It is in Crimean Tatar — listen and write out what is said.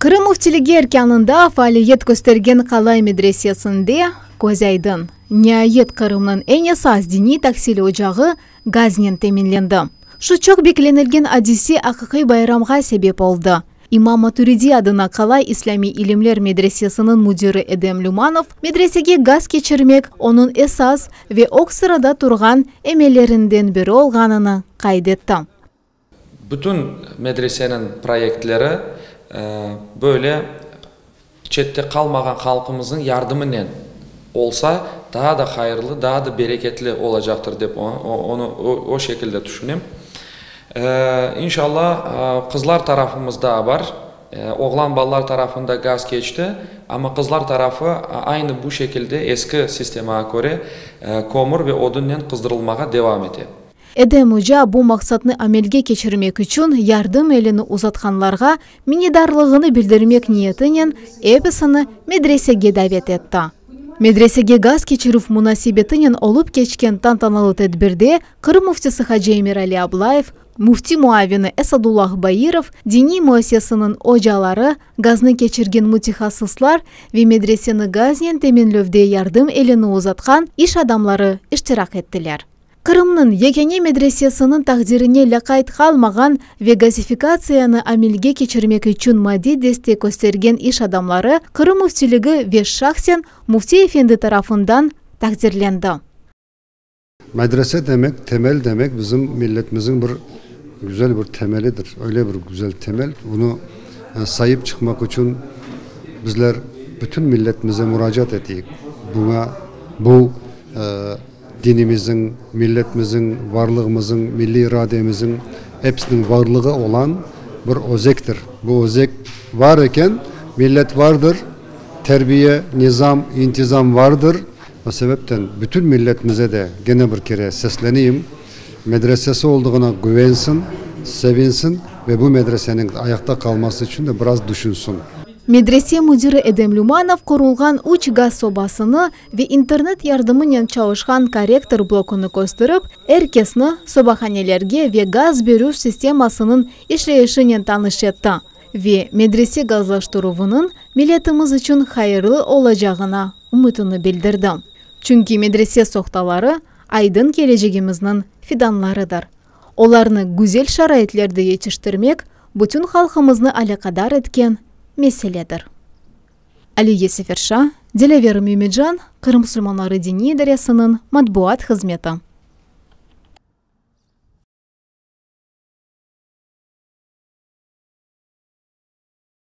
Qırım Müftiligi erkânında faaliyet köstergen Qalay medresesinde, köz aydın, niayet Qırımnıñ eñ esas diniy tahsil ocağı gaznen teminlendi. Şu çoq beklenilgen adise aqiqiy bayramğa sebep oldı. İmam Maturidiy adına Qalay islâmiy ilimler medresesiniñ müdiri Edem Lümanov medresege gaz keçirmek onıñ esas ve ög sırada turğan emellerinden biri olğanını qayd etti. Bütün medreseniñ proyektleri böyle çette qalmağan halqımıznıñ yardımınen olsa, daa da hayırlı, daa da bereketli olacaqtır dep onı o şekilde tüşünem. İnşalla, qızlar tarafımız daa bar. Oğlan balalar tarafında gaz keçti, amma qızlar tarafı aynı bu şekilde eski sistemağa köre kömür ve odunnen qızdırılmağa devam ete. Edem oca bu maqsatnı amelge keçirmek içün yardım elini uzatqanlarğa minnedarlığını bildirmek niyetinen episini medresege davet etti. Medresege gaz keçirüv munasebetinen olıp keçken tantanalı tedbirde Qırım Müftisi hacı Emirali Ablayev, Müfti muavini Esadullah Bairov, diniy müesseseniñ ocaları, gaznı keçirgen mütehassıslar ve medreseni gaznen teminlevde yardım elini uzatqan iş adamları iştirak ettiler. Qırımnıñ yekâne medresesiniñ taqdirine lâqayt qalmağan ve gazifikatsiyanı amelge keçirmek içün maddiy destek köstergen iş adamları Qırım Müftiligi ve şahsen Müfti efendi tarafından taqdirlendi. Medrese demek, temel demek, bizim milletmizniñ bir güzel bir temelidir. Öyle bir güzel temel, bunı sayıp çıqmaq içün bizler bütün milletmize muracaat eteyik. Buña, bu, Dinimizniñ, milletmizniñ, varlığımızıñ, milliy irademizniñ, episiniñ varlığı olan bir özektir. Bu özek var eken, millet vardır, terbiye, nizam, intizam vardır. O sebepten bütün milletimize de gene bir kere sesleneyim, medresesi olduğına güvensin, sevinsin ve bu medreseniñ ayaqta qalması içün de biraz düşünsün. Medrese müdiri Edem Lümanov qurulğan üç gaz sobasını ve internet yardımınen çalışqan korrektor blokını kösterip, er kesni sobahanelerge ve gaz berüv sistemasınıñ işleyişinen tanış etti ve medrese gazlaştıruvınıñ milletimiz içün hayırlı olacağına ümütini bildirdi. Çünki medrese sohtaları, aydın kelecegimizniñ fidanlarıdır. Olarnı güzel şaraitlerde yetiştirmek bütün halqımıznı alâqadar etken meseledir. Aliye Seferşa, Dilâver Mümican, Qırım musulmanları diniy idaresiniñ matbuat hızmeti.